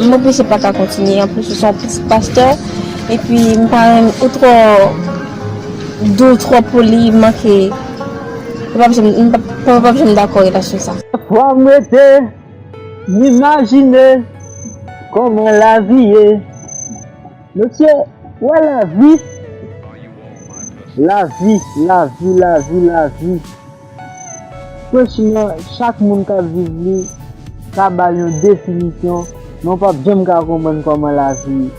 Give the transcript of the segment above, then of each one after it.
Mwen plis se pa ka kontinye an plis ou son pitit pastè epi m pa renmn ou twò dou ou twò poli m manke m pap janm dakò relasyon sa. Fòm rete M imajine kòman lavi ye. Mesye, wè lavi. Lavi, lavi, lavi, lavi. Franchman, chak moun k ap viv li ka ba l yon definisyon, men w p ap janm ka konprann kòman lavi ye.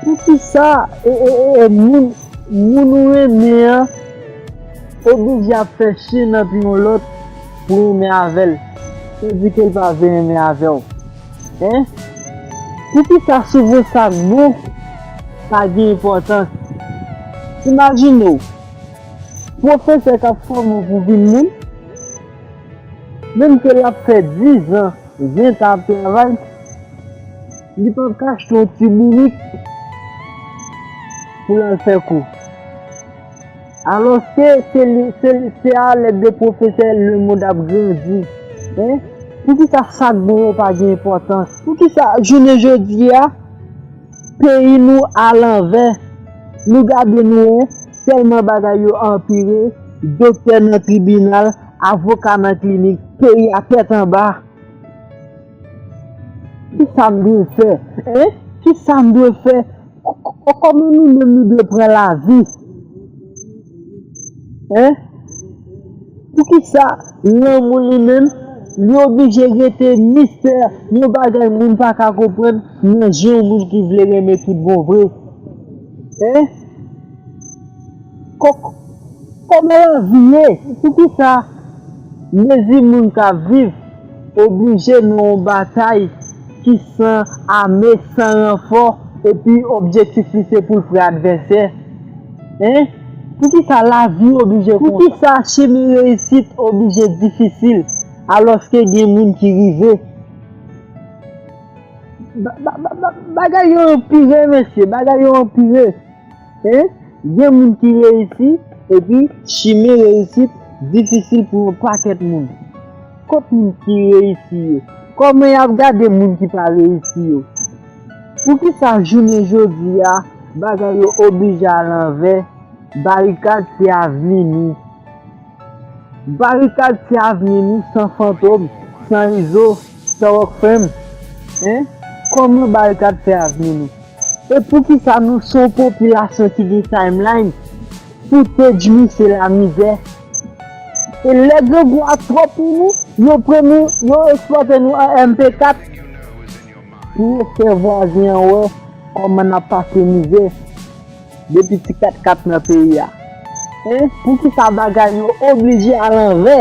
Poukisa moun ou renmen an oblije ap fè chen nan pye yon lòt? Pou renmen avèl. Ou di kel pa vle renmen avèw hein. Poukisa souvan sak bon pa gen enpòtans. Imajinew pwofesè kap fòme w pou vin moun. Menm ke lap fè 10 ans 20 ans ap travay. Li pap ka achte yon ti bourik pou lal fè kou. Alòske se li, se li, se a lèd de pwofesè lemond ap grandi. Hein? Poukisa sa k bon yo pa gen enpòtans? Poukisa jounen jodi a, peyi nou a lanvè? Nou gade nou hein, tèlman bagay yo anpire, doktè nan tribinal, avoka nan klinik, peyi a tèt anba. Kisa m dwe fè? Hein? Kisa m dwe fè? Ohh koman nou menm nou dwe pran lavi hein poukisa lanmou nou menm li oblije rete mistè yon bagay moun pa ka konprann nan je yon moun ki vle renmen tout bon vre hein. Kok, koman lavi ye? Poukisa mezi moun ka viv oblije nan yon batay ki san ame, san ranfò epi objektif li se pou l pre advèsè? Hein? Poukisa lavi oblije konsa? Poukisa chemen reyisit oblije difisil alòske gen moun ki rive? Bagay yo anpire mesye, bagay yo anpire. Hein gen moun ki reyisi epi chimen reyisit difisil pou yon pakèt moun kot moun ki reyisi yo kòman yap gade moun ki pa reyisi yo poukisa jounen jodia bagay yo oblije a lanvè barikad se avni nou barikad se avni nou san fantom san izo Starrock frèm hein kòman barikad fè avni nou e poukisa nou son popilasyon ki gen timeline pou teddy misye lamizè e lè grangou a twòp pou nou yo pran nou yo eksplòte nou an MP4 pou yo fè vwazen an wè kòman nap pase mizè depi ti katkat nan peyi a hein poukisa bagay yo oblije a lanvè.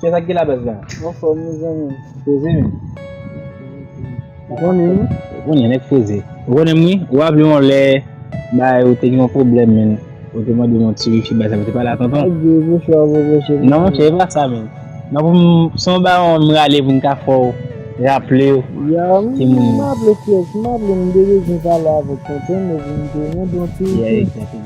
Kiyès ak gela baz la? Anfòm wi zanmim. Poze menm. Ou konnen wi. Ou konnen nèg poze. Ou konnen m wi. Ou raple yon lè bagay ou te gen yon pwoblèm menn ou te mande m yon ti wifi baz la mwen te pale a tonton. Ak gwo bouch ou a gwo bouch e menm. Non monchè e pa sa menn. Nan pou m se yon bagay ou menm rale pou m ka fè w raple w ti moun. Yow m raple kiyès m raple m te bezwen pale avèk tonton m e pou m te mande yon ti wifi.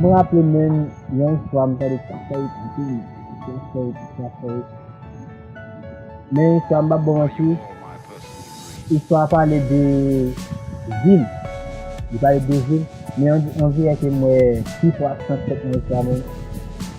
M raple menn yon istwa m tande sa fè anpil sa fè sa fè men yon istwa m pap baw manti istwa a pale de vil li pale de vil men yon viyè ke m wè pifò aksant fèt nan istwa menm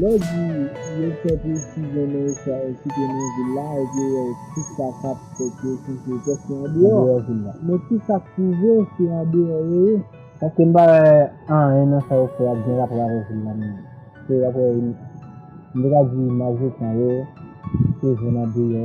Lè w di yo fè presizyon nan estwa ekite nan vil la epi ou wè kisa k ap fèt yo chèche tès yo andeyò vil la. Men kisa k pwouve se andeyò yo ye. Paske m pa wè anyen nan sa yo fè a k gen rapò avèk vil la menm. Se dapre, m te ka di majorite nan yo se zòn andeyò.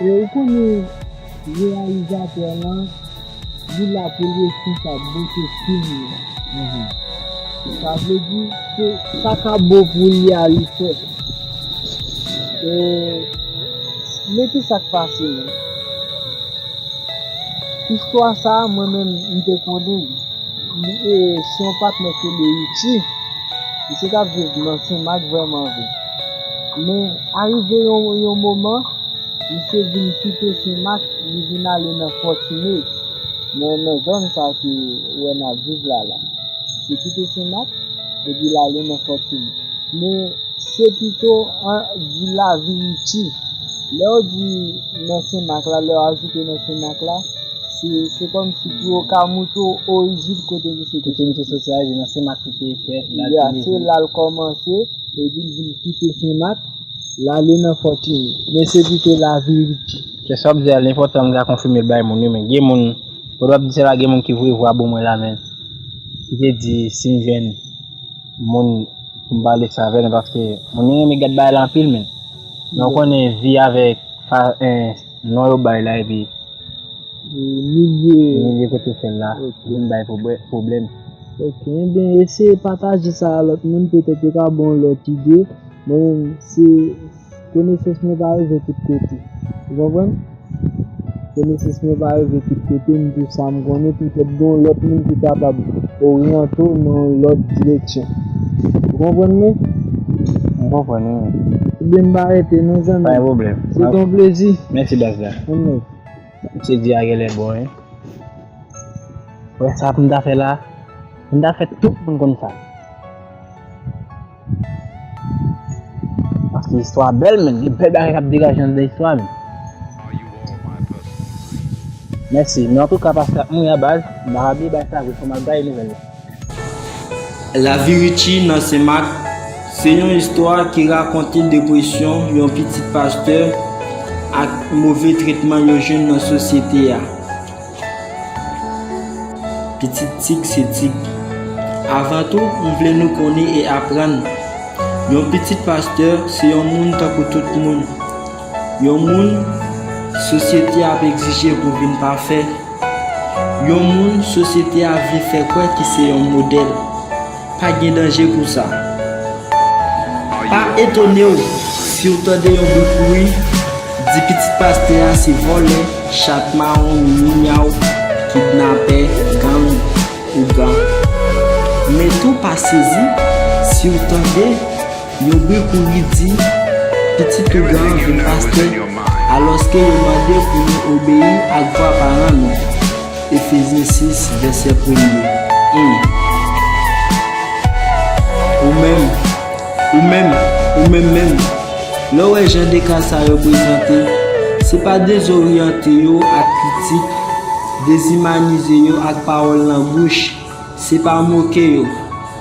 E ou konnen reyalizatè lan li la poul responsab bote film nan. Sa vle di se sa ka bo pou li a li fè. E men kisak pase nan. Istwa sa mwen menm m te konnen li. Li se yon patnè ke Leritie. Misye tap viv nan Senmak vrèman vre. Men, arive yon moman, misye vin kite Sen Mak, li vin ale nan Fòtine, nan zòn sa a ke ou wè n ap viv la la. Misye kite Sen Mak, epi l ale nan Fòtine. Men, se pito an di Laviriti. Lè ou di nan Sen Mak la, lè ou ajoute nan Sen Mak la, se kòmsi pou yo ka montre w orijin kote misye te soti. Kote misye soti a, se nan Sen Mak li te fèt, la l te leve. Ya, se la l kòmanse. Epi l vin kite Sen Mak, l ale nan Fòtini. Men se pito laverite. Kè sa w ap di a li enpòtan m ka konfime l bay moun wi men gen moun kote w ap di sa la gen moun ki voye vwa bo mwen la men ki te di si m jwenn moun pou m pale sa avè l paske moun yo renmen gad bagay la anpil men men ou konnen vi avèk non yo bay la epi milye kote w fè l la vin bay pwoblèm. Ok ebyen eseye pataje sa a lòt moun petèt yo ka baw lòt ide, mwen menm se konesans mwen pa rive tout kote ou konprann, konesans mwen pa rive tout kote m di w sa m konnen petèt gen yon lòt moun ki kapab oryante w nan yon lòt direksyon ou konprann mwen? M konprann wi. Ebyen m pa rete non zanmi m, se te yon plezi. Mèsi baz la. Anmweyy. Misye di a genlè bon wi. Wè sa pou m ta fè la. Pou m ta fè tout moun konn sa. Paske istwa a bèl men. Gen bèl bagay k ap degaje anndan istwa men. Mèsi. Men antouka pase ak mwen a baz. M pa bliye bay sa vre fò m al gaye nouvèl la. Lavi Richie nan Sen Mak se yon istwa ki rakonte depresyon yon pitit pastè ak move tretman yo jwenn nan sosyete a. Pitit Tig se Tig. Avan tou, m vle nou konnen e aprann, yon pitit pastè se yon moun tankou tout moun. Yon moun, sosyete a ap egzije pou vin pafè. Yon moun, sosyete a vle fè kwè ki se yon modèl. Pa gen danje pou sa. Pa etone w si w tande yon bri kouri di pitit pastè a se vòlè, chat mawon, mimi-myaw, kidnapè, gang, ougan. Men tou pa sezi si w tande. Yo bri kouri di, Pitit ougan an vin pastè, alòske yo mande pou nou obeyi ak vwa paran nou. Efezyen 6, vèsè premye, 1. Ou menm, ou menm, ou menm menm, lè w wè jan de ka sa yo prezante, se pa dezoryante yo ak kritik, dezimanize yo ak pawòl nan bouch, se pa moke yo.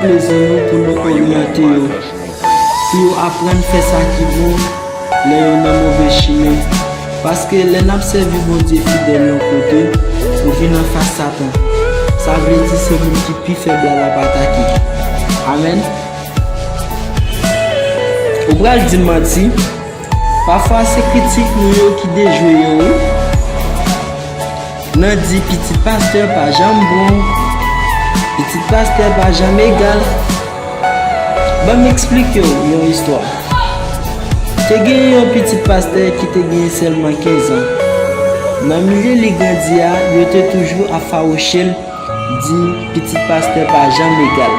Plezi nou pou nou oryante yo, pou yo aprann fè sa ki bon lè yo nan move chimen. Paske lè n ap sèvi Bondye fidèl yon kote, nou vin anfas Satan, sa vle di se moun ki pi fèb la l ap atake. Amèn. Ou pral di m manti, pafwa se kritik nou yo ki dejwe yo wi. Nan di pitit pastè pa janm bon, pitit pastè pa janm egal, ban m esplike w yon istwa. Te gen yon pitit pastè ki te gen sèlman kenzan. Nan milye li grandi a, yo te toujou ap fawouche l, di pitit pastè pa janm egal.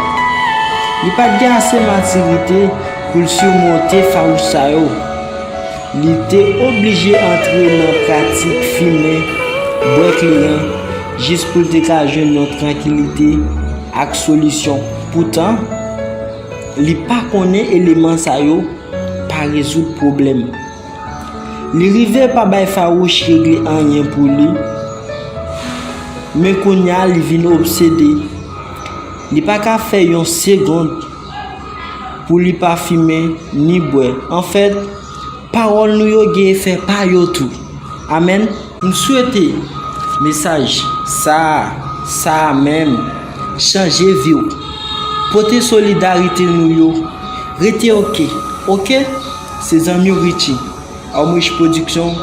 Li pa t gen ase matirite pou l simonte fawouch sa yo. Li te oblije antre nan pratik fimen, bwè kleren, jis pou l te ka jwenn yon trankilite ak solisyon. Poutan, li pa konnen eleman sa yo pa rezoud pwoblèm. Li rive pa bay fawouch regle anyen pou li, men kounya li vin obsede. Li pa ka fè yon segond. pou li pa fimen ni bwè. Anfèt, pawòl nou yo gen efè pa yo tou. Amèn. M swete mesaj sa a, sa a menm, chanje vi w. Pote solidarite nou yo. Rete ok. Ok? Se zanmi w Richie. Armrich Production,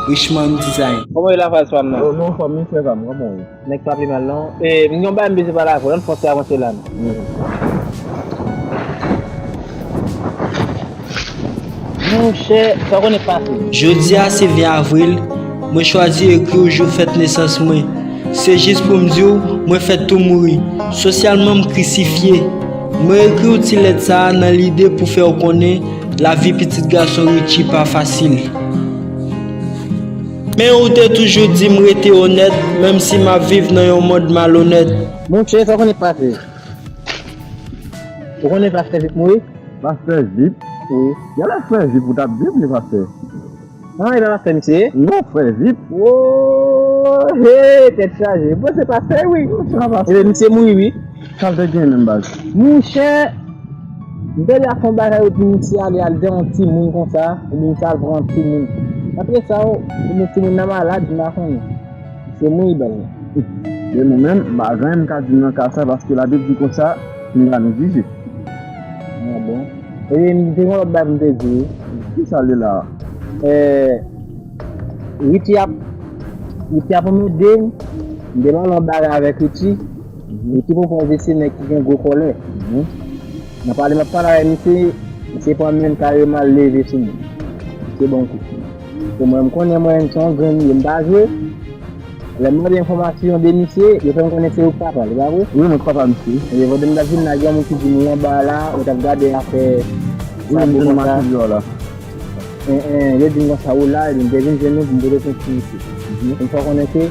Richmond Design. Koman ye la faz pam nan. Yo non fanmi frè pam koman ou ye. Nèg pa pi mal non. Eeh m gen yon bagay m bezwen pale avèw ann fòse avanse la non. Monchè sa w konnen k pase. Jodi a se 20 avril, mwen chwazi ekri w jou fèt nesans mwen. Se jis pou m di w mwen fèt tou mouri, sosyalman m krisifye. Mwen ekri w ti lèt sa a nan lide pou fè w konnen lavi pitit gason Richie pa fasil. Men ou te toujou di m rete onèt menm si m ap viv nan yon mond malonèt. Monche sa w konnen k pase? Ou konnen pastè vip mouri? Pastè vip? Wi. Gen lè frè vip ou t ap di m li pastè. An e nan lafè misye ye? Non frè vip. Woo hee tèt chaje. Bon se pastè wi. Bon sa pastè. Ebyen misye mouri wi. Sal te gen menm baz. Monchè Bel ap fon bagay epi misye ale al gen yon timoun konsa epi misye al pran yon timoun apre sa ou ebyen timoun nan malad m pa konnen se mwen idòl la. Men mwen menm m pa gen anyen m ka di nan ka sa paske labib di konsa nou la nou jije. Ah bon. Ebyen m te gen yon lòt bagay pou m te di wi. Kisa li la a? Ehh Richie ap Richie ap anmède m m te pale yon bagay avèk Richie. Misye pran pòz li se nèg ki gen gwo kòlè. Nan pale map pale avè misye, misye pran menl kareman l leve sou mwen. Misye banm kou. Pou mwen m konnen mwen menm se yon grenn m ye m pa jwe. Lè m mande enfòmasyon de misye, yo fè m konnen se ou k papa l, e pa vre? Wi mwen k papa misye. Ebyen pandan m tap vin la gen yon moun ki di m ou anba la, ou tap gade afè sa pou konsa. Wi m te nan machin dèyè w la. Yo di m konsa ou la, ebyen m te vin jwenn ou pou m pote plent sou misye. Misye fè m konnen ke.